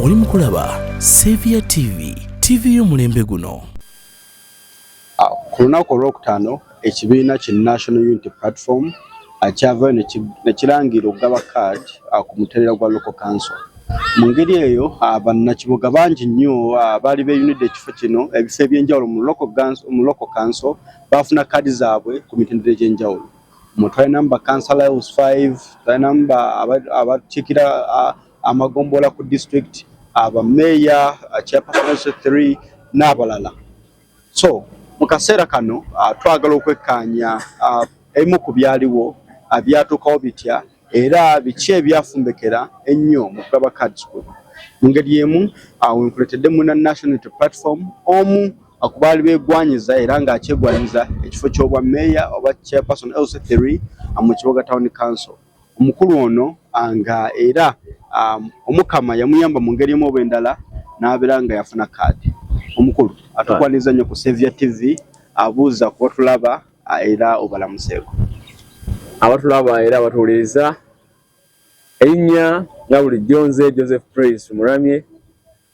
oli mu kulaba Saviour TV, TV y'omulembe guno. Ah, ku lunaku olwokutaano ekibiina ki National Unity Platform ah, kyavayo ne kirangira okugaba kaadi ah, ku mutereera gwa Local Council. Mu ngeri eyo bannakibuga bangi nnyo baali beeyunidde ekifo kino ebifo eby'enjawulo mu Local Council baafuna kaadi zaabwe ku mitendera egy'enjawulo. Twalina mu ba councillor house five, twalina mu abakiikirira amagombolola ku district, aba mayor, chair person house three n'abalala. So mu kaseera kano twagala okwekkaanya ebimu ku byaliwo byatuukawo bitya. Era biki ebyafumbekera ennyo mu kulaba cards kuno? Mungeri y'emu awo wenkuletedde munna National Unity Platform omu ku baali beegwanyiza era ng'akyegwanyiza ekifo ky'obwa meeya oba chairperson LC3 mu Kiboga Town Council. Omukulu ono nga era Omukama yamuyamba mu ngeri emu oba endala n'abeera nga yafuna kaadi. Omukulu atukwaniriza nnyo ku Saviour TV abuuza kuba tulaba era obalamuseeko abatulaba era abatuwuliriza erinnya nga bulijjo nze joseph prince muramye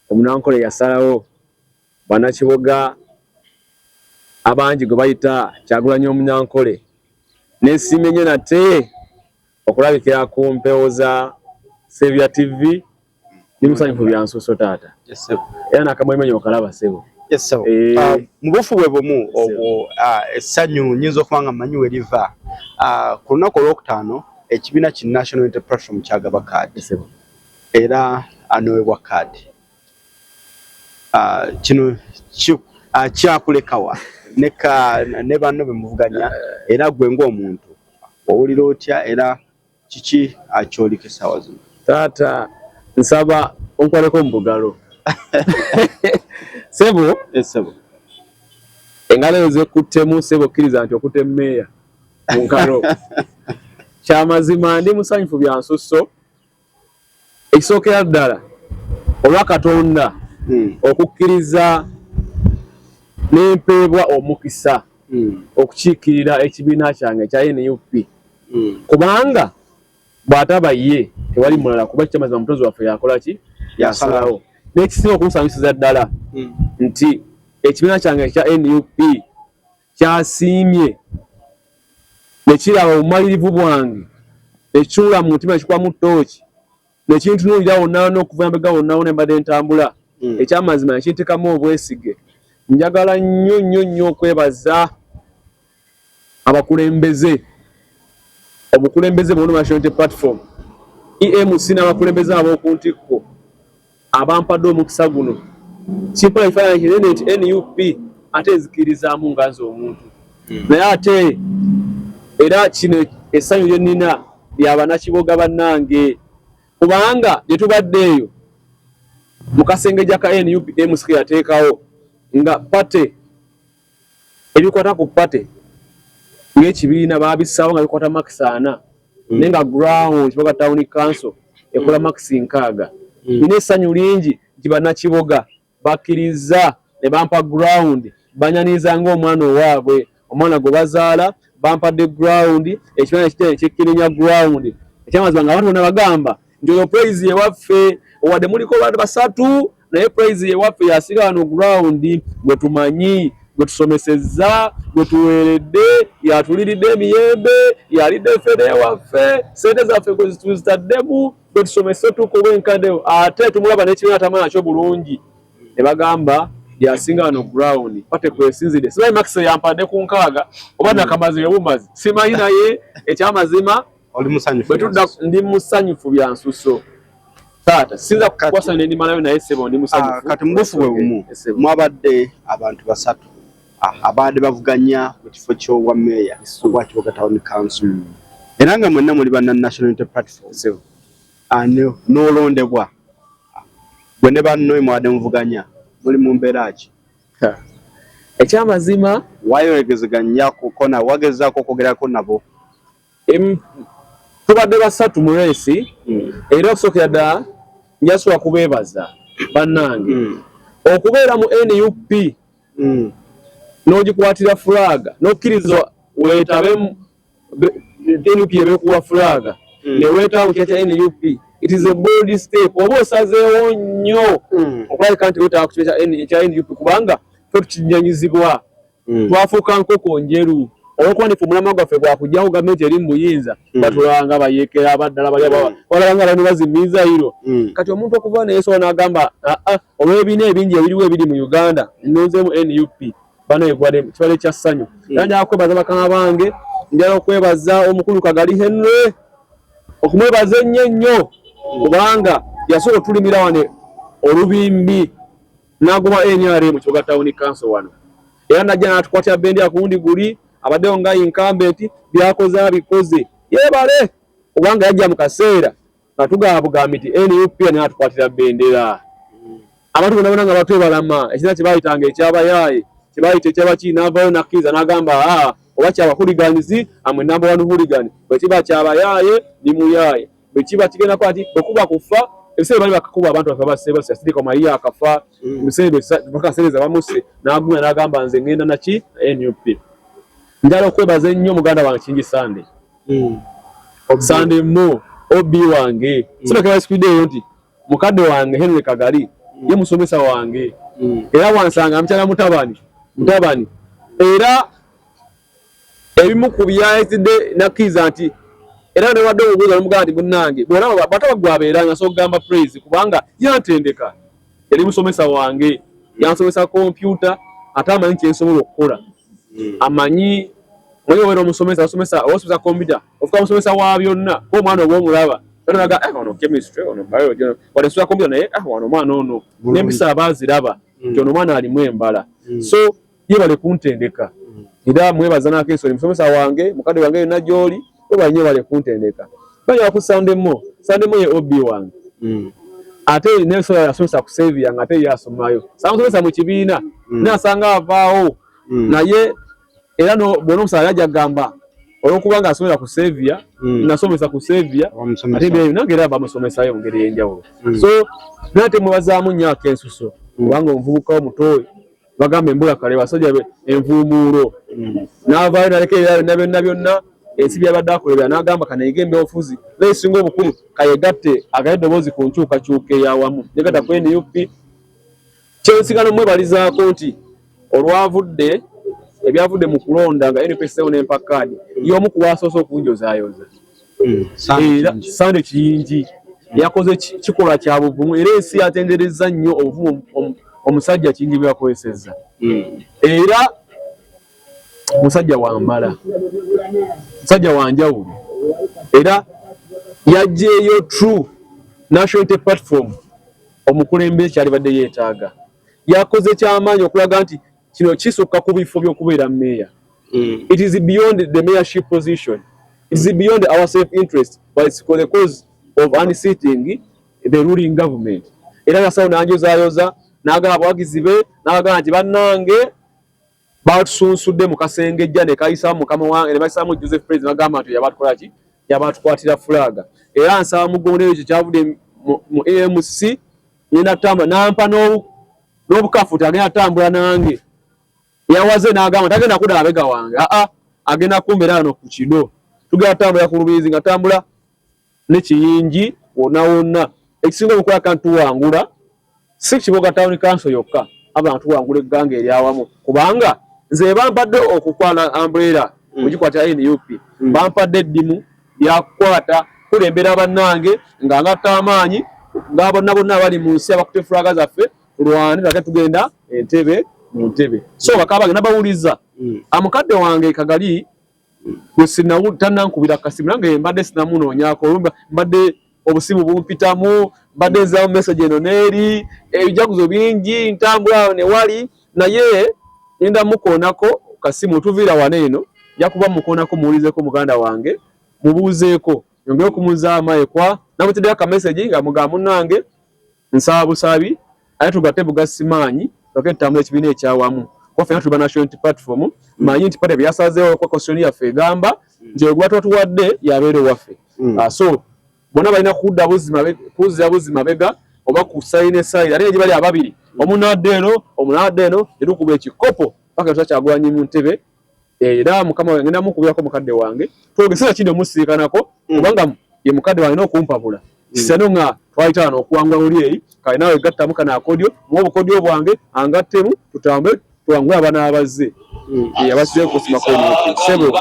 omunankole yasalawo banakiboga abangi gwe bayita kyagulanyo omunankole nesiimye nyo nate okulabikira ku mpewo za sebya tv ndi musanyufu byansuso taata era nakamwemenye okalaba sebo eh. ah, mubufu bwe bumu obwo ah, essanyu nyinza okuba nga manyi weriva ah, ku lunaku olwokutaano ekibiina ki national unity platform kyagaba kaadi era anowebwa kaadi kino kyakulekawa ne banno bemuvuganya eh. era gwe ngaomuntu Owulira otya era kiki akyoleka essaawa zino? Taata nsaba onkoleko mu bugalo. Ssebo. Yes ssebo. Engalo ezo zekuttemu ssebo kkiriza nti okutte mmeeya mu ngalo. Kya mazima ndi musanyufu bya nsusso. Ekisookera ddala olwa Katonda hmm. okukkiriza n'empeebwa omukisa hmm. okukiikirira ekibiina kyange ekya nup hmm. kubanga bw'ataba ye tewali mulala kuba kikyamazima mutozi waffe yakola ki yasalawo n'ekisinga okumusanyusiza ddala nti ekibiina kyange ekya nup kyasiimye ne kiraba obumalirivu bwange ne kitunula mu mutima ne kikwamu ttooki ne kintunuulira wonna wonna okuva embega wonna wonna embadde ntambula hmm. ekyamazima ne kintekamu obwesige njagala nnyo nnyo nnyo okwebaza abakulembeze obukulembeze bwona national unity platform emc n'abakulembeze ab'oku ntikko Abampadde omukisa guno kimpola ekifaananyi kinene nti nup ate nzikirizaamu nga nze omuntu hmm. naye ate era kino essanyu lye nnina lya banakiboga bannange kubanga gye tubadde eyo mu kasengejja ka nup msq yateekawo nga pate ebikwata ku pate ng'ekibiina baabissaawo nga bikwata makisi ana hmm. naye nga ground kiboga town council ekola hmm. makisi nkaaga hmm. nina essanyu lingi nti bannakiboga bakkirizza ne bampa ground banyaniriza ng'omwana owaabwe omwana gwe bazaala bampadde ground ekibiina ekitene kikkirinya ground ekyamazima nga abantu bona bagamba Njoyo praise ye waffe owade muliko bantu basatu naye praise ye waffe yasiga wano ground gwe tumanyi gwe tusomesezza gwe tuweeredde yatuliridde emiyembe yalidde fede waffe sente zaffe gwe zituzitaddemu gwe tusomese tukuba enkade ate tumulaba nekibiina tamala kyo bulungi ne bagamba yasinga wano ground pate kwesinzidde sibayi max yampadde ku nkaaga oba nakamazi yobumazi simanyi naye ekyamazima Oli musanyufu. Bwe tudda ndi musanyufu bya nsuso. Taata sinza kukwasa ne ndi malayo naye sebo ndi musanyufu. Ah, kati mbufu bwe bumu mwabadde abantu basatu ah, abaade bavuganya mu kifo ky'obwa meeya obwa Kiboga Town Council. Hmm. Era nga mwenna muli banna National Unity Platform. Sebo. Ani ah, n'olondebwa. Gwe ne bannoye mwabadde muvuganya muli mu mbeera ki? ekyamazima wayogezeganyako kona wagezaako okwogerako nabo Tubadde basatu mu reesi hmm. era okusookera ddala njasula kubeebaza bannange hmm. okubeera mu nup hmm. n'ogikwatira fulaaga n'okkiriza weetabe nup ebekuwa fulaaga ne weetaba kukya kya nup it is a bold step oba osazeewo nnyo okulabika nti weetaba ku kya nup kubanga fe tukinyanyizibwa mm. twafuuka nkoko njeru olwokuba ndife omulamwa gwaffe gwakujjawo gavumenti eri mu buyinza mm. batulaba nga bayekera abaddala bali mm. balaba nga bano bazimiiza iro mm. kati omuntu okuva neyesobola n'agamba aa ah, ah, olw'ebiina ebingi ebiriwo ebiri mu uganda nonzemu nup bano egwade kibale kya ssanyu mm. era njala kwebaza bakama bange njala okwebaza omukulu kagali henry okumwebaza ennyo ennyo kubanga yasooka otulimira wane olubimbi n'agoba nrm kibuga tawuni kanso wano era najja n'atukwatira bendera ku wundi guli abaddewo nga inkambenti byakoze abikoze yeebale obanga yajja mu kaseera nga tugamba bugambi nti nup n'atukwatira bendera abantu bona bona nga batwebalama ekina kyebayitanga ekyabayaaye kyebayita ekyabaki n'avaayo nakkiriza n'agamba aa oba kyabahuliganizi amwe namba wani huligani bwekiba kyabayaaye ni muyaaye bwe kiba kigenda kuba nti bwe kuba kufa ebiseera bali bakakuba abantu baffe abaseebasi asirika omaliyo akafa mm. ebiseerebakaseereza bamuse n'agumya n'agamba nze ngenda naki nup njala okwebaza ennyo muganda wange kingi sande mm. sande mo ob wange mm. sinakebasikwideeyo nti mukadde wange henry kagali ye musomesa wange era wansanga mukyala mutabani mutabani era ebimu ku byayizidde nakkiriza nti era newadde obubuuza nomugamba nti munnange bwolaba bataba gwabeera nga sokugamba praise kubanga yantendeka yali musomesa wange yansomesa kompyuta ate amanyi kyensobola okukola hmm. amanyi mwenye wena omusomesa osomesa osomesa kompyuta ofuka musomesa wa byonna ko mwana obo omulaba nolaga eh ono chemistry ono biology ono wale sura kompyuta naye ah wano mwana ono nempisa abaziraba mm. kyono mwana alimu embala mm. so yebale kuntendeka era mwebaza nako ensonyi musomesa wange mukadde wange yonna gyoli webale nyo yebale kuntendeka banyala ku sande mo sande mo ye ob wange mm. ate nensola yasomesa ku sevi yange ate ye asomayo samusomesa mu kibiina mm. naye asanga avaawo mm. naye era bwona omusala yaja gamba olwokuba nga asomera ku sevia mm. nasomesa ku sevia ate byeyo nange era bamusomesayo mu ngeri eyenjawulo mm. so nate mwebazaamu nyo akensuso mm. kubanga omuvubuka omutoyi bagamba embula kale basajja envuumuulo hmm. n'avaayo naleka ebira byonna byonna byonna ensi byabadde akolebera n'agamba kanayige embyobufuzi naye esinga obukulu kayegatte agale eddoboozi ku nkyukakyuka eyawamu negatta ku nup kyensigano mwebalizaako nti olwavudde ebyavudde mu kulonda nga nup eseewo n'empakkaadi y'omu ku waasoose okunjozaayoza hmm, era sande kiyingi yakoze kikolwa kya buvumu era ensi yatenderezza nnyo obuvumu omusajja kingi bwe yakozesezza hmm. era musajja wamala musajja wanjawulo era yajjeeyo true national unity platform omukulembeze kyalibadde yeetaaga yakoze kyamaanyi okulaga nti kino kisukka ku bifo by'okubeera meeya mm. it is beyond the mayorship position it is beyond our self interest but it's for the cause of unseating the ruling government era nasawo nanjozayoza nagaba abawagizi be nagagamba nti bannange batusunsudde mu kasengejja ne kayisamu mukama wange ne bayisamu joseph pres nagamba nti yabatukola ki yabatukwatira fulaga era nsaba mugondero ekyo kyavudde mu amc nenda tamba nampa n'obu n'obukafuti agenda tambula nange yawaze n'agamba tagenda kuda abega wange aa ah, ah, agenda kumbera ano ku kido tugenda tambula ku lubizi nga tambula ne kiyingi wonna wonna ekisinga obukola kantuwangula si kiboga tawuni kanso yokka abantu tuwangula egganga eryawamu kubanga nze bampadde okukwala ambrera ogikwatira mm. nup mm. bampadde eddimu byakukwata kulembera bannange nga ngatta amaanyi nga bonna bonna abali mu nsi abakutte fulaga zaffe tulwane tulage tugenda entebe mu ntebe so bakaba bagenda bawuliza hmm. amukadde ah, wange kagali gwe sinawu tanankubira kasimu nange mbadde sinamunoonyako mbadde obusimu bumpitamu mbadde nzirawo message eno neeri ebijaguzo bingi ntambula awo newali naye enda mukoonako kasimu tuviira wana eno yakuba mukoonako muwulizeko muganda wange mubuuzeeko yongere okumuzaamu ekwa namutiddeyo akamessage nga muga munange Nsaba busabi ate tugate bugasi maanyi twake tutambula ekibiina ekyawamu kuba fena tuli ba National Unity Platform manyi nti pate byasazeewo kwa constitution yaffe egamba nti oyo gwatuba tuwadde yabeera owaffe mm. uh, so bona balina kudda buzima kuzza buzima bega oba ku sayina esayira ate egibali ababiri omunaadde eno omunaadde eno tetukuba ekikopo paka tusa kyagulanyi mu ntebe era mukama wange ngenda mukubirako mukadde wange twogesera kino musiikanako mm. kubanga ye mukadde wange n'okumpabula mm. sano nga twayitaana okuwangula oli eyi kale naawe gattamu kana akodyo muwa obukodyo bwange angattemu tutambule tuwangule abana abazze mm. abasize kusimako sebo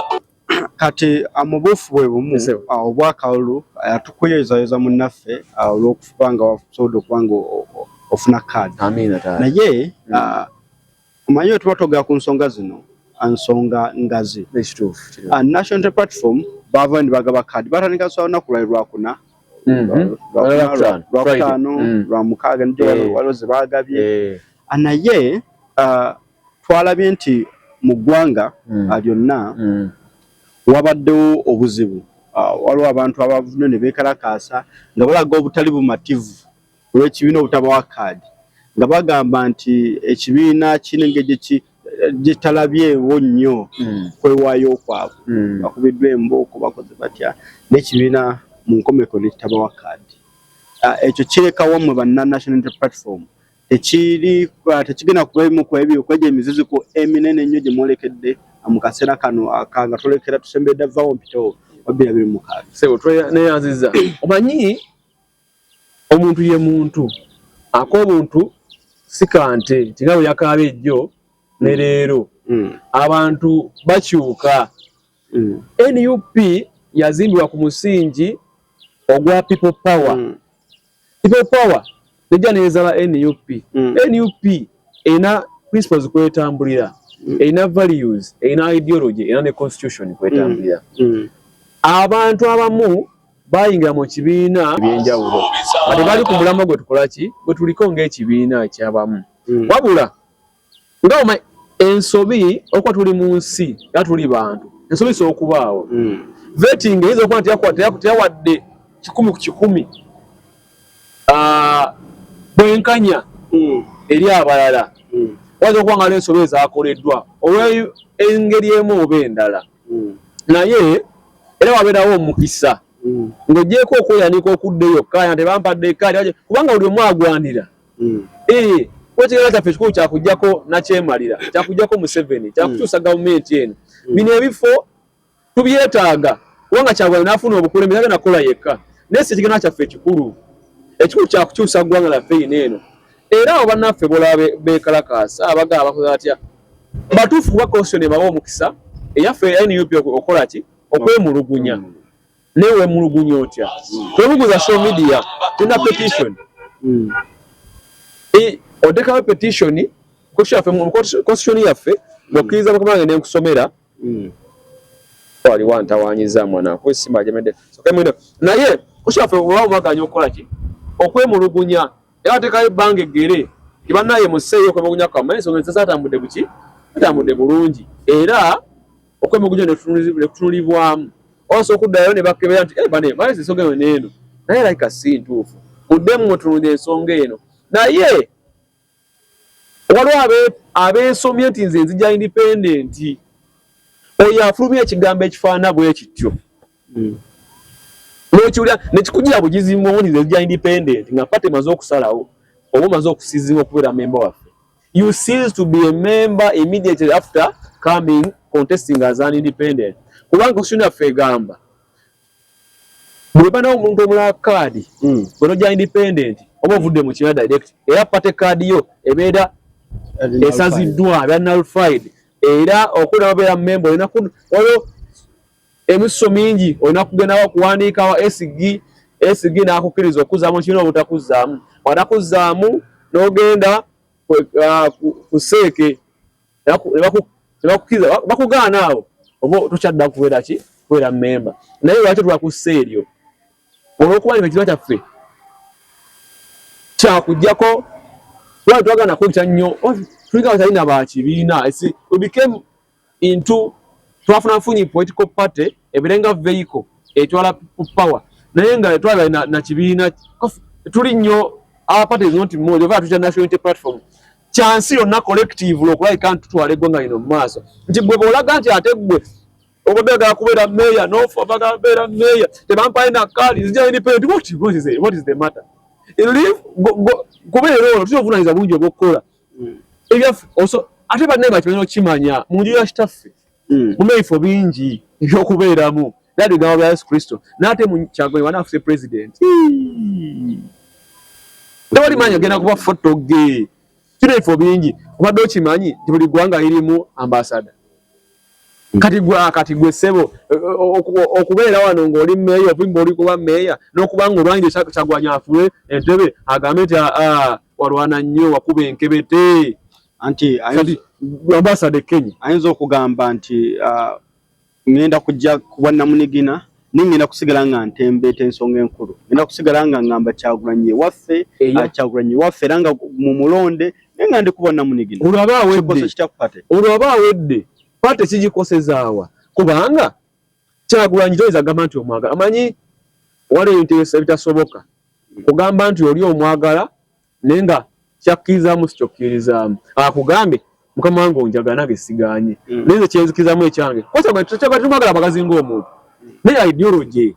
kati amubuufu bwe bumu obwakalulu atukuyozayoza munnaffe olw'okuba nga wasobodde okuba nga ofuna kaadi naye Omanyi bwe tuba togera ku nsonga zino nsonga ngazi ah, National Unity Platform baava ndi bagaba kaadi batandika kusaba lunaku lwali lwakuna lwakutaano mm-hmm. mm. lwamukaaga nijo eh. waliwo ze baagabye eh. ah, naye ah, twalabye nti mu ggwanga mm. lyonna mm. wabaddewo obuzibu waliwo abantu abavune ne beekalakaasa nga balaga obutali bumativu lw'ekibiina obutabawa kkaadi nga bagamba nti ekibiina kiri engeri gye talabyewo nnyo hmm. kwewaayo kwabwe hmm. bakubiddwa embooko bakoze batya n'ekibiina mu nkomeko ne kitabawa kkaadi ah, ekyo kirekawo mwe banna national inter platform tekiri ah, tekigenda kuba emu ku ebyo kwegyo emiziziko eminene ennyo gye mwolekedde ah, mu kaseera kano aka nga tolekera tusembedde vawo mpitewo wabbirabiri mukaaga sebo tweneyanziza omanyi Omuntu ye muntu. Ak'obuntu si ka nte nti nga bwe yakaabye jjo ne mm. leero. Mm. Abantu bakyuka. Mm. Nup yazimbibwa ku musingi ogwa people power. Mm. People power nejja neezala nup. Mm. Nup erina principles kwetambulira. Mm. Erina values, erina ideology, erina ne constitution kwetambulira. Mm. Mm. Abantu abamu bayingira mu kibiina ebyenjawulo kati bali ku mulamwa gwe tukola ki gwe tuliko ng'ekibiina kyabamu hmm. wabula nga oma ensobi okuba tuli mu nsi era tuli bantu ensobi isobola okubaawo hmm. vetting eyinza okuba nti teyawadde kikumi ku kikumi ah, bwenkanya hmm. eri abalala wayinza okuba nga n'ensobi ezakoleddwa olw'engeri emu oba endala mm. naye era wabeerawo omukisa mm. ng'ogyeko okweyanika okudda eyo kkaaya nti bampadde ekkaaya kubanga buli omu agwanira mm. eh, kwekigeera kyaffe ekikulu kyakujjako nakyemalira kyakujjako museveni kyakukyusa gavumenti eno bino ebifo tubyetaaga kubanga kyagwana nafuna obukulembeze agenda kukola yekka naye si ekigenaa kyaffe ekikulu ekikulu kyakukyusa ggwanga laffe ino eno Era abo bannaffe bolabe beekalakaasa abaga abakoze batya batuufu kuba constitution ebawa omukisa eyaffe nup okola ki okwemulugunya mm. naye wemulugunya otya mm. twebuguza show media tulina petition mm. e, otekawo petition constitution yaffe okkiriza mukama wange nenkusomera waliwo antawanyiza mwana kwesima ajemedde naye kushaffe oba omwaganya okukola ki okwemulugunya era atekayo ebbanga eggere nti bannaye museeyo okwemulugunya kwamma ensonga ezizatambudde buki zitambudde bulungi era okwemulugunya nekutunulibwamu osa okuddayo ne bakebera nti eh, bane mazi ensonga eyo neeno naye laika si ntuufu muddemu mutunulira ensonga eno naye waliwo abeesomye nti nze nzija independenti oyo afulumya ekigambo ekifaana bwe kityo mm. nokiwulira nekikujira bugizi muwunize ja independent nga pate maze okusalawo oba omaze okusizibwa okubeera memba waffe you cease to be a member immediately after coming contesting as an independent kubanga constitution yaffe egamba bwebanawo omuntu omulala kaadi hmm. bwenoja independent oba ovudde mu kiina direct era pate kaadi yo ebeera esaziddwa ebeera nulfied era okula babeera memba olina waliwo Emisso mingi olina kugenda wa kuwandiika wa SG, SG n'akukkiriza okuzaamu kino obutakuzzaamu. Bw'atakuzaamu n'ogenda uh, ku seeke nebakukkiriza bakugaana awo oba tokyadda kubeera ki kubeera memba naye lwaki twakussa eryo olwokuba nti ekiba kyaffe kyakujjako lwaki twagana kwekya nnyo oh, tuliga batalina bakibiina into twafuna nfunyi political party ebirenga vehicle etwala people power naye nga etwala na, na kibiina tuli nnyo our party is not more over to national unity platform chance yo na collective lo kulai kan tutwale gwanga ino maso nti bwe bola ganti ategwe obega kubera meya no for baga bera meya te bampa ina kali zija ni pe what what is it what is the matter in live kubera lo tuzovuna iza bunje bokola mm. ebyaffe oso ate banne bakimanyi okimanya mu nju ya kitaffe mm. muna ebifo bingi ebyokubeeramu era bigambo bya yesu kristo naate kyagoye wana afuse president tewali manyi ogenda kuba foto ge kino ebifo bingi obadde okimanyi nti buli ggwanga lirimu ambasada kati gwe akati gwe sebo okubeera wano ng'oli meeya ovimba oli kuba meeya n'okuba nga olwanyire kyagwanya afule entebe agambe nti aa ah, ah, walwana nnyo wakuba enkebete anti ambasada e kenya ayinza okugamba nti ah, ŋŋenda kujja kubwannamunigina naye ngenda kusigala nga ntembeeta ensonga enkulu ngenda kusigala nga ngamba kyagulanyi ewaffe ah, kyagulanyi ewaffe era nga mu mulonde naye nga ndikuba namunigina olwaba awedde kitakupate olwaba awedde pate kigikosezaawa kubanga kyagulanyi toyinza kugamba nti omwagala amanyi waliwo ebintu ebitasoboka kugamba nti oli omwagala naye nga kyakkirizaamu sikyokkirizaamu akugambe mukama wange onjaga nange siganye mm. naye nze kyenzikirizamu ekyange kosabatumagala magazi ngaomuntu naye ideology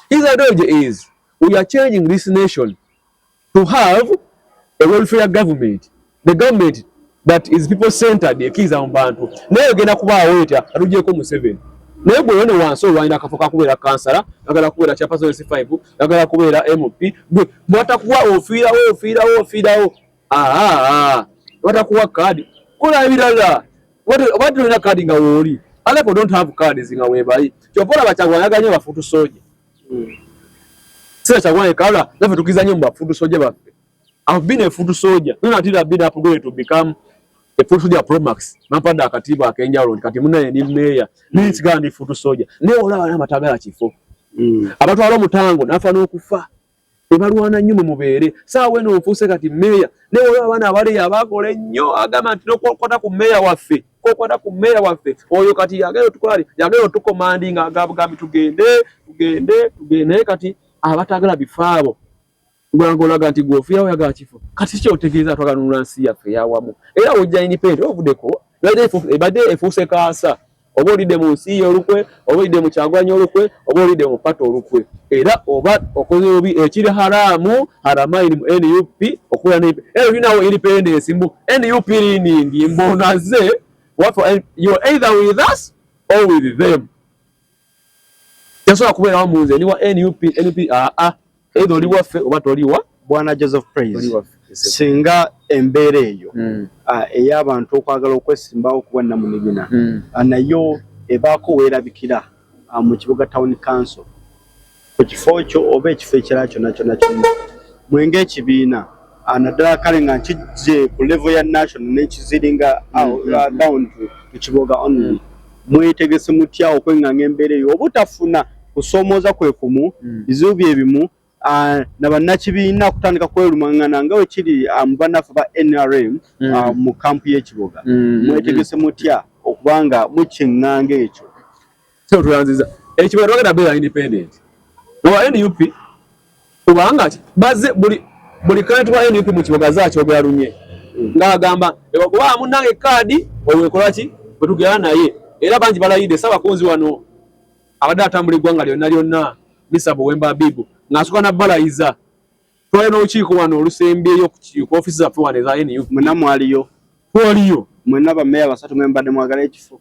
his ideology is we are changing this nation to have a welfare government the government that is people centered ekiza mu bantu naye ogenda kubaawo etya atujeko museveni naye gwe yone wansi olwanyina akafo kakubeera kansala agala kubeera kyapasonesi five agala kubeera mp gwe bwatakuwa ofiirawo ofiirawo ofiirawo aa batakuwa kaadi kola ebirala oba tolina kaadi nga wooli aleko don't have cards nga webali kyova olaba kyagwa yaganye bafutu soja hmm. sira kyagwa ekala nafe tukizanye mu bafutu soja baffe I've been a foot soldier. None until I've been upgraded to become a foot soldier pro max. Nampanda akatibu akenja road kati muna ye ni mayor. Mm. Ni tsiga ni foot soldier. Ne ola wana matagala chifo. Mm. Abatu alo mutango nafa no kufa. Ebalwana nyuma mubere. Sa weno ofuse kati mayor. Ne ola wana abale ya bakole nyo agama tino kwa kota ku mayor wafe. Kwa kota ku mayor wafe. Oyo kati yagero tukwali. Yagero tuko mandi nga agabu gami tugende. Tugende. Tugende kati abatagala bifabo. Gwanga olaga nti gwe ofiira oyagala kifo. Kati kyo otegeeza twagala nunula nsi yaffe eyawamu. Era wojja independent ovudeko ebadde efuuse kaasa. Oba olidde mu nsi ye olukwe, oba olidde mu Kyagulanyi olukwe, oba olidde mu pata olukwe. Era oba okoze obi ekiri haraamu haramaini mu nup okukola ne era olinawo independence mbu nup liningi mbu onaze waffe you're either with us or with them. Yasobola kubeerawo mu nze ndi wa nup nup aa ah, ah. eitha oli waffe oba toliwa bwana joseph praise singa embeera eyo hmm. ah, ey'abantu okwagala okwesimbawo ku bwannamunigina hmm. nayo ebaako weerabikira mu kibuga town council ku kifo kyo oba ekifo ekirala kyonna kyonna kyonna mwe ng'ekibiina ah, naddala kale nga nkijje ku level ya national nekiziringa ah, mm-hmm. ah, down to kiboga only mm. mwetegese mutya okwenganga embeera eyo obutafuna kusomooza kwe kumu mm. bizibu bye bimu na bannakibiina okutandika kwelumangana nga wekiri mu banaffe ba nrm mm. mu kampu y'ekiboga mwetegese mutya okubanga mukyeŋŋanga ekyo Sio tuanziza. Eh, chibaro wagenda bela independent. Wa NUP kubanga baze buli buli kantu wa NUP mu kiboga zacho ogera lunye. Ngagamba eba kuba amunange kadi owe kolaki butugera naye. Era banji balayide saba kunzi wano abada atambuli gwanga lyo nalyo na misabo wemba bibu. Ngasuka na balayiza. Twale no chiko wano olusembe yo ku office za fwa ne za NUP. Muna mwali yo. Kwali yo. Muna ba meya basatu mwemba de mwagala ekifu.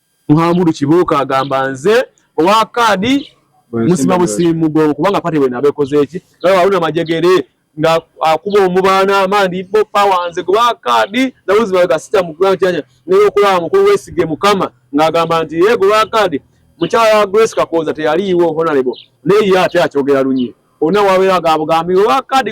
Muhamudu Kibuuka agamba nze owa kaadi musima busimu mugongo kubanga pate bwena abekozeeki nawe waluna majegere nga akuba omubaana amandi bo pawa nze gwa kaadi nabuzibaga sita mukulankyanya naye okulaba mukulu wesige mukama ng'agamba nti ye gwa kaadi mukyala wa Grace Kakooza teyaliiwo honalebo naye ye ate akyogera lunye olina wabeera gabugambi owa kaadi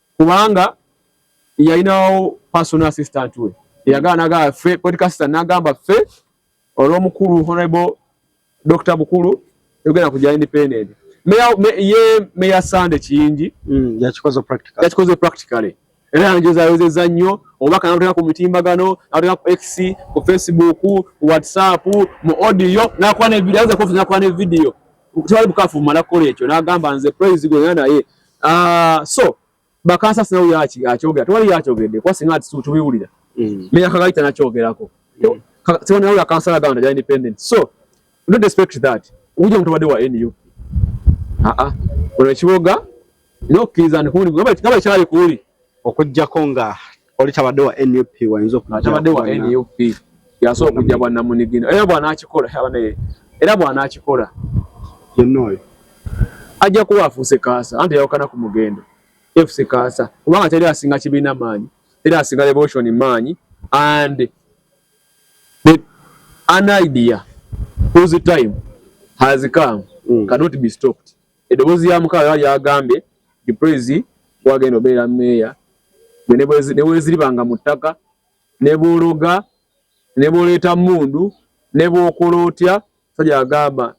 kubanga yalinawo personal assistant we eyagala nagamba ffe political assistant nagamba ffe olw'omukulu honorable dr bukulu tugenda kujja independent ye meya sande kiyingi mm, yakikoze practically era yanjezayozeza nnyo obubaka nateka ku mitimbagano nateka ku x ku facebook whatsapp mu audio nakuba nevidiyo tewali bukafu mumala kukola ekyo nagamba nze praise gwena naye ah uh, so bakansa sinawo yaki akyogera tewali yakyogeredde kuba singa tubiwulira mm. meya kagayita nakyogerako mm. tewali nawe yakansala ganda ja independent so don't expect that uja mutobadde wa nup aa ah, ah. olwekiboga nokkiriza ndikuli gaba kyali kuuli okujjako nga oli tabadde wa nup wayinza okutabadde wa nup yasobola okujja bwannamunigina era bwanakikola abanaye era bwanakikola yenna oyo ajja kuba afuuse kaasa anti yawukana ku mugendo efuse kaasa kubanga teri asinga kibiina maanyi teri asinga revolution maanyi and the, an idea whose time has come mm. cannot be stopped Eddoboozi lya Mukama lyali lyagambye nti Praise gwagenda obeera meeya gwe ne weeziribanga mu ttaka ne bw'ologa ne bw'oleeta mmundu ne bw'okola otya sajja agamba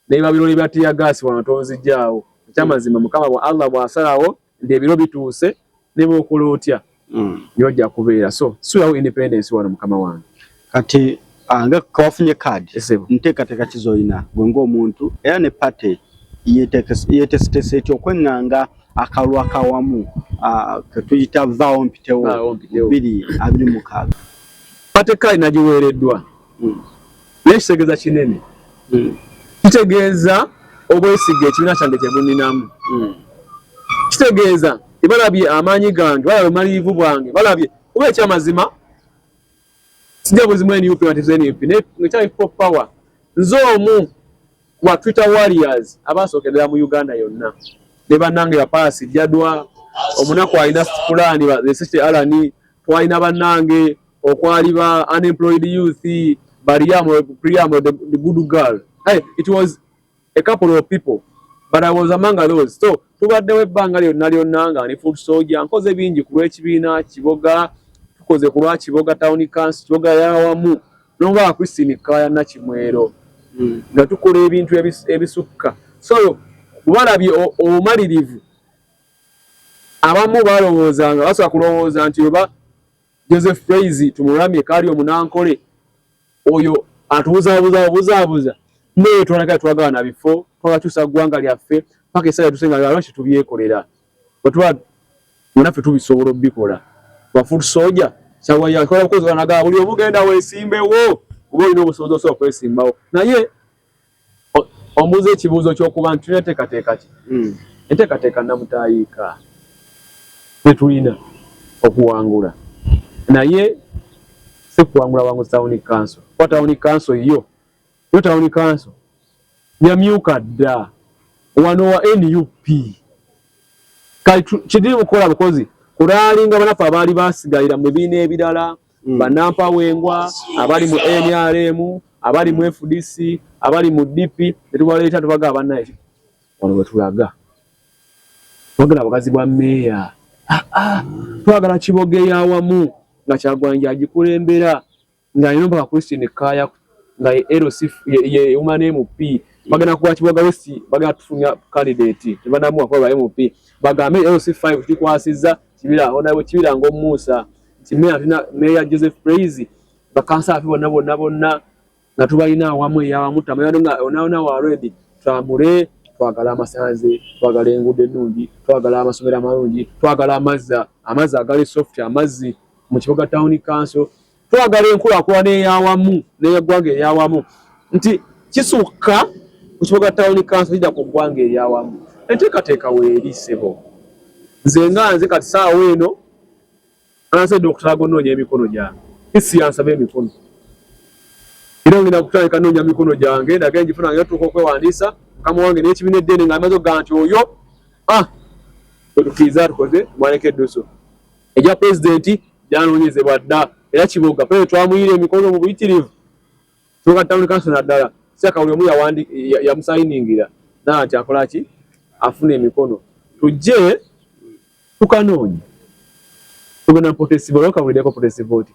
ne babirole bya ttiyagaasi wano tonzijjaawo ekyamazima Mukama bwa Allah bw'asalawo nti ebiro bituuse nebwokola otya mm. nyoja kubeera so sulawo independence wano mukama wange kati ah, nga kawafunye kaadi nteekateeka kizoyina gwe ngaomuntu era ne pate yetesetesa etya okweŋŋanga akalwa kawamu ah, ketuyita vaawo mpitewo biri abiri mukaaga pate kaadi nagiweereddwa naye kitegeeza kinene hmm. kitegeeza obwesiga ekibiina kyange kyebuninamu hmm. kitegeeza ebalabye amaanyi gange balabye omaliivu bwange balabye kuba ekyamazima sija buzimu nup nup nekyange people power nze omu wa twitter warriors abasookerera mu uganda yonna ne bannange bapaasi jadwa omunaku alina pulaani alani twalina bannange okwali ba unemployed youth bariamo priamo the, the good girl hey, it was a couple of people but i was among those so tubaddewo ebbanga lyonna lyonna nga ne food soldier nkoze bingi ku lw'ekibiina kiboga tukoze ku lwa kiboga town council kiboga yawamu nonga christine kaya nakimwero hmm. nga tukola ebintu ebisukka so balabye obumalirivu abamu balowoozanga basobola kulowooza nti oba Joseph Daisy tumuramye kali omunankole oyo atubuzabuza obuzabuza naye twalaga twagala na bifo twalakyusa ggwanga lyaffe paka esaala tusenga lwalo kitubyekolera bwetuba munaffe tubisobola obikola bafutu soja kyawayakola bukozi banagaa buli omugenda wesimbewo kuba olina obusobozi osobola okwesimbawo naye Ombuuza ekibuuzo ky'okuba nti tulina enteekateeka ki? Hmm. Enteekateeka nnamutaayiika ze tulina okuwangula, naye si kuwangula wangu tawuni kanso, kuba tawuni kanso yo yo tawuni kanso yamyuka dda wano wa nup kati kidiri mukukola bukozi kulaalinga banaffe abaali basigalira mu bibiina ebirala mm. banampawengwa abali mu nrm abali mu fdc abali mu dp netubaleeta tubaga abanaye wano wetulaga twagala bugazi bwa meeya ah, ah. twagala kibogeya awamu nga kyagwanja agikulembera nga alina mpaka christine kaya nga lc yeuma ne mp bagenda kuwa kiboga wesi bagenda tufunya candidate tebanamuwa kuba ba mp bagambe lc 5 tukwasiza kibira onawe kibira ngaomuusa nti meeya tulina meeya joseph praise bakansa afe bonna bonna bonna nga tubalina awamu eyawamu tamayano nga onaona wa redi twamule twagala amasanze twagala enguudo ennungi twagala amasomero amalungi twagala amazzi amazzi agali soft amazzi mu kibuga tawuni kanso twagala enkulakulana eyawamu neyeggwanga eyawamu nti kisukka ku kibuga tawuni kanso kija ku ggwanga eryawamu enteekateeka weeri sebo nze nga nze kati saawa eno Ansadde okutaaga onoonya emikono gyange. Isi yansaba emikono. Era ngenda kutandika noonya mikono gyange ndage ngifuna nga tuuka okwewandiisa mukama wange n'ekibiina eddene nga amaze okugaa nti oyo ah wetukiiza tukoze mwaleka eddusu egya pulezidenti gyanoonyezebwa dda era kiboga pere twamuyiira emikono mu buyitirivu tuuka tawuni kanso naddala saka buli omu yamusayiningira naa nti akola ki afuna emikono tujje tukanoonya tugenda mupotesiva olwoka buliddeko potesiva oti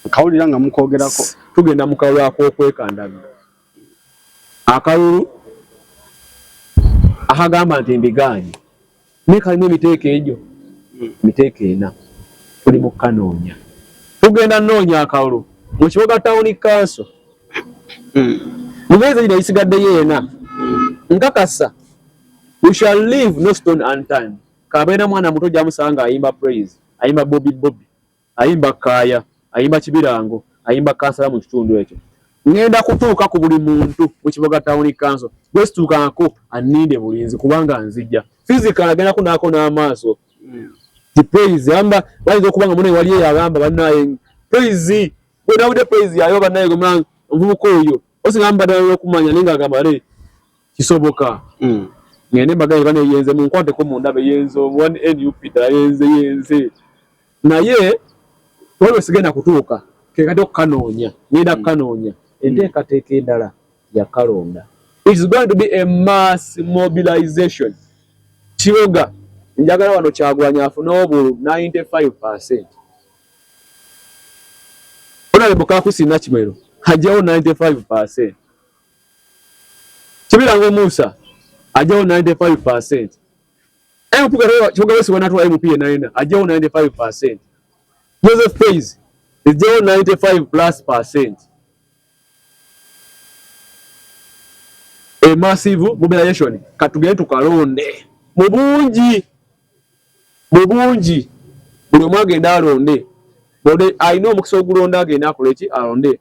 nkawulira nga mukwogerako tugenda mukalulu akokwekandaga akalulu akagamba nti mbigaanye naye kalimu emiteeko egyo emiteeko ena tuli mukukanoonya tugenda noonya akalulu mu kiboga tawuni kanso hmm. mubeezi gino gisigaddeyo ena nkakasa We shall leave no stone unturned. Kabeera mwana muto gyamusanga ayimba praise, ayimba bobi bobi, ayimba kaaya, ayimba kibirango, ayimba kansala mu kitundu ekyo. Ngenda kutuuka ku buli muntu mu Kiboga Town Council gwe situukangako anninde bulinzi kubanga nzija. Physical agenda kunaako n'amaaso. Mm. Ti praise amba bayinza okuba nga mune wali eyagamba bannaye praise gwe nawulidde praise yayo bannaye gwe mwana omuvubuka oyo osinga mbadala n'okumanya naye nga agamba naye kisoboka mm. ngende mbagaye bane yenze munkwate ko mundabe yenze one nup da yenze yenze naye wewe sigenda kutuuka kekati okukanoonya ngenda mm. kukanoonya enteekateeka mm. endala yakalonda its going to be a mass mobilization kiroga njagala wano kyagulanya afune obulu 95 percent onalembukakusi nakimwero hajjawo 95 percent kibirango musa ajawo 95% mpuga kyoga wesi wanatula mp yenaina ajawo 95% joseph praise ejawo 95 plus percent a massive mobilization katugende tukalonde mu bungi mu bungi buli omu agenda alonde bode alina omukisa ogulonda agenda akoleki alonde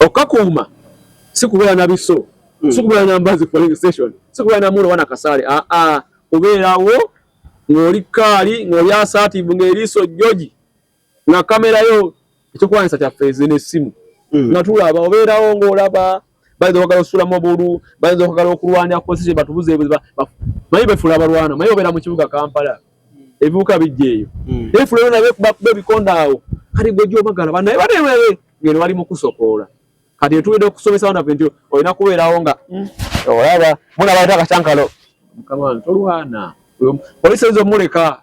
Okakuuma si kubeera na biso, hmm. si kubeera na mbazi polling station, si kubeera na mulo wana kasaale, aa ah, ah. kubeerawo ng'oli kaali ng'oli asaativu ng'eriiso joji nga kamera yo ekyokulwanyisa kyaffe ezi n'essimu hmm. nga tulaba obeerawo ng'olaba bayinza okwagala osulamu obulu bayinza okwagala okulwanira kukozesa batubuza ebuziba maye befula abalwana maye obeera mu kibuga kampala ebibuka bijja eyo hmm. efula yona bekuba ebikonda awo kati gwe gyobagala banaye banewewe ngeno bali mukusokoola kati etubide okusomesa abaana fe nti olina kubeerawo nga hmm. olaba muna baleta akacankalo mukama tolwana polisi eyinza omuleka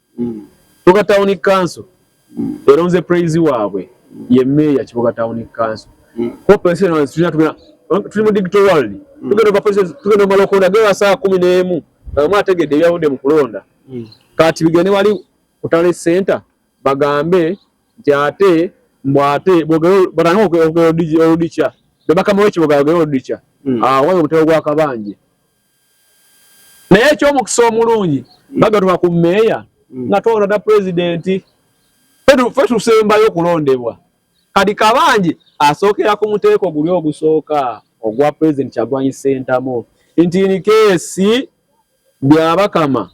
Kiboga Town Council eronze praise waabwe ye meeya Kiboga Town Council. Hope ensi eno tulina tugenda tuli mu digital world. Tugenda kwa police tugenda mu lokonda gera saa 11 nga mwa tegedde ebyavudde mu kulonda. Kati bigende wali kutale center bagambe nti ate mbu ate bogero batandika okwogera oludica. Bebakama w'ekiboga ayogera oludica. Awo waliwo omutego gw'akabanje. naye ekyomukisa omulungi bagatuma ku meeya mm. nga twawona da pulezidenti fe tusembayo okulondebwa kati kabanje asookera ku muteeko guli ogusooka ogwa pulezidenti kyagwanyi sentamu nti nikeesi byabakama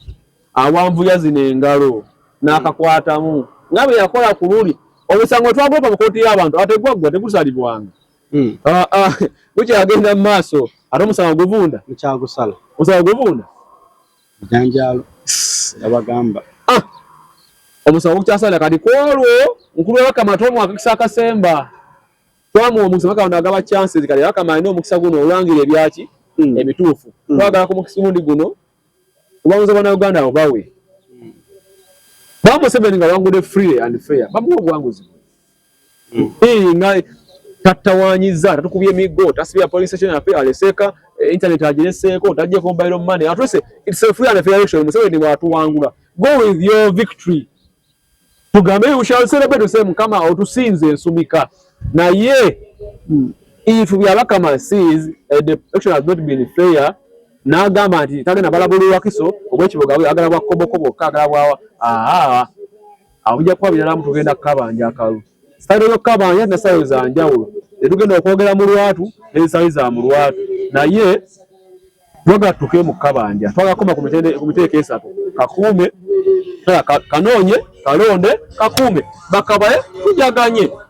awanvuya zino engalo n'akakwatamu nga bwe yakola ku luli omusango twagweka mu kooti y'abantu ategwaggwa tegusalibwanga Hmm. Ah, ah, bukyagenda mu maaso ate omusango guvunda mukyagusala omusango guvunda janjalo abagamba ah, omusango gukyasala kati kwolwo nkulu wabakama ate omwakakisa akasemba twamuwa omukisa bakawona agaba chances kati bakama alina omukisa guno olwangira ebyaki hmm. ebituufu hmm. twagala ku mukisa gundi guno obamuza bana uganda abo bawe bamuseveni nga wangudde free and fair bamuwa obuwanguzi Hii nga tattawanyiza tatukubye miggo tasibya polling station yaffe aleseeka eh, internet agireseeko tajja kumbayiro money atuse it's a free and fair election museveni bwatuwangula go with your victory tugambe you shall celebrate to say mukama otusinze ensumika naye hmm, if we are bakama sees uh, the election has not been fair n'agamba nti tagenda balabulirwa kiso obwekiboga agala bwa kobokobo kagala bwa awo mujja kuba biralamu tugenda kukabanja akalu sitayiro yokukabanja na sitayiro za njawulo tetugenda okwogera mu lwatu n'ensaayo za mu lwatu naye twagala tutuke mu kukabanja twagala kukoma ku miteeko esatu kakuume kanoonye kalonde kakuume bakabaye tujaganye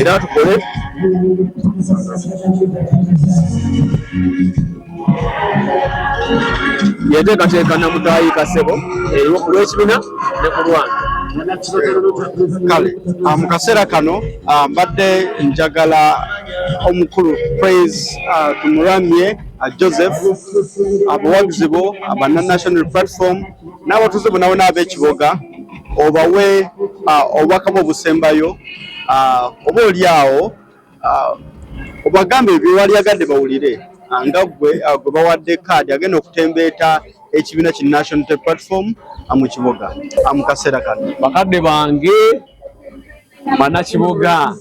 era tukole yenteekateeka namutaayi kasebo eriwo ku lwekibina ne ku lwange kale ah, mu kaseera kano ah, mbadde njagala omukulu praise ah, tumuramye joseph abawagizi bo abana national platform n'abatuuze bonabona ab'ekiboga obawe obubaka bwe obusembayo oba oli awo obagambe byewali agadde bawulire nga gwe gwe bawadde kaadi agenda okutembeeta ekibiina ki national t platform mu kibuga mu kaseera kano bakadde bange banakibuga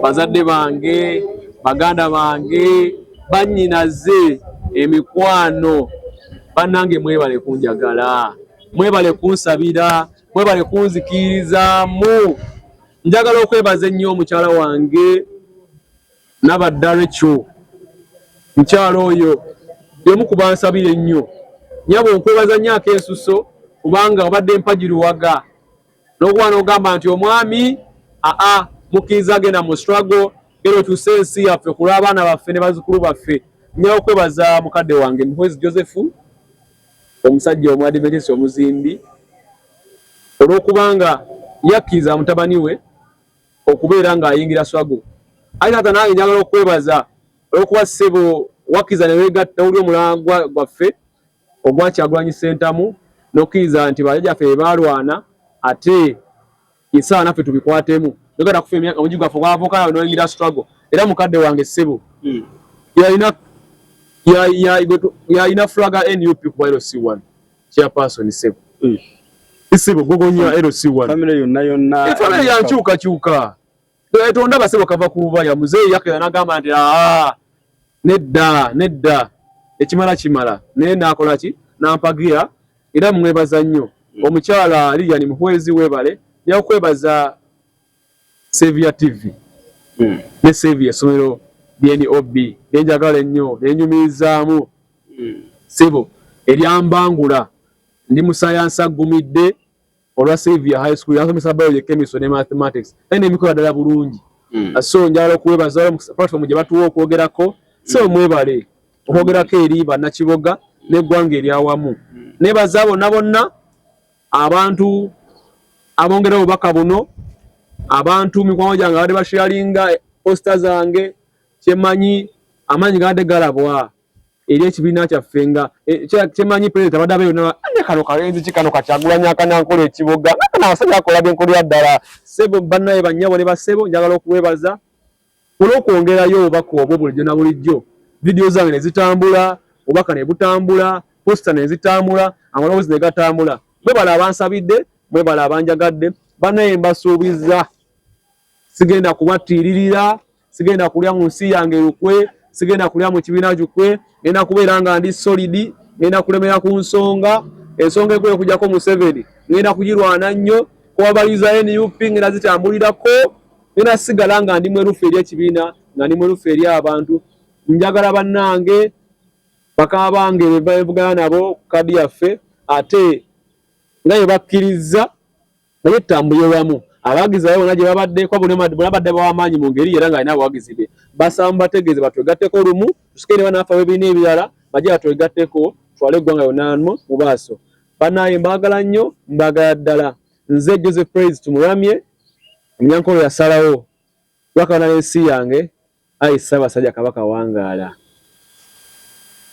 bazadde bange baganda bange bannyinaze emikwano bannange mwebale kunjagala mwebale kunsabira mwebale kunzikirizaamu njagala okwebaza ennyo omukyala wange nabaddarekyo mukyala oyo yomu kubansabira ennyo nyabo nkwebaza nnyo akensuso kubanga obadde mpagiruwaga nokuba nogamba nti omwami aa mukkiriza agenda mu strago era otuuse ensi yaffe kulwa abaana baffe ne bazukulu baffe nyawo kwebaza mukadde wange muhwezi joseph Omusajja Omwadiventisi omuzimbi olw'okubanga yakkiriza mutabani we okubeera ng'ayingira swago. Ayi taata nange njagala okwebaza olw'okuba ssebo wakkiriza ne weegatta wuli omulangwa gwaffe ogwa Kyagulanyi Ssentamu n'okkiriza nti bajajaffe be baalwana ate Yesaawa naffe tubikwatemu yogera kufa emyaka omuji gwaffe gwavuka nawe noyingira struggle era mukadde wange ssebo hmm. yalina yalina flag nup kuba LC1 chairperson ssebo hmm. ssebo gogonya LC1 family yonna yonna family yankyuka kyuka twetonda basebo kava ku bubaya muzeeyi yakera nagamba nti aa nedda nedda ekimala kimala naye nakola ki nampagira era mwebaza nnyo mm. omukyala liyani muhwezi webale nyakwebaza savia tv mm. ne savia esomero dnob nenjagala ennyo nenyumirizaamu mm. sebo eryambangula ndi musayansi aggumidde olwa Saviour High School yansomesa biology, chemistry ne mathematics naye nebikola ddala bulungi mm. Uh, so njagala okuwebaza platform gye batuwa okwogerako mm. so mwebale okwogerako eri bannakiboga n'eggwanga eryawamu mm. nebaza bonna bonna abantu abongera obubaka buno abantu mikwano gyange abadde basharinga posta zange kyemanyi amaanyi gabadde galabwa eri ekibiina kyaffe nga e, kyemanyi pulezidenti abadde abeeyo naba ane kano kalenzi ki kano kakyagulanya akanankola ekiboga nga kana abasajja akola byenkola ya ddala sebo bannaye bannyabo ne basebo njagala okuweebaza olw'okwongerayo obubaka obwo bulijjo na bulijjo vidiyo zange ne zitambula obubaka ne butambula posita ne zitambula amaloboozi ne gatambula mwebala abansabidde mwebala abanjagadde bannaye mbasuubiza sigenda kubattiiririra sigenda kulya mu nsi yange lukwe sigenda kulya mu kibiina kikwe ngenda kubeera nga ndi solidi ngenda kulemera ku nsonga ensonga ekulu okujjako museveni ngenda kugirwana nnyo kuwabaliza nup ngenda zitambulirako ngenda sigala nga ndi mwerufu eri ekibiina nga ndi mwerufu eri abantu njagala bannange bakaba bange bevugana nabo kadi yaffe ate nga ye bakkirizza naye tutambuye wamu abawagizi babe bona gye babadde kuba bona babadde bawamaanyi mu ngeri era nga alina abawagizi be basaba mubategeeze batwegatteko lumu tusikere banaafa webiina ebirala baje batwegatteko twale eggwanga yonna mu maaso banaaye mbaagala nnyo mbaagala ddala nze joseph praise tumuramye omunyankolo yasalawo lwakabana n'ensi yange ayi ssaabasajja kabaka wangaala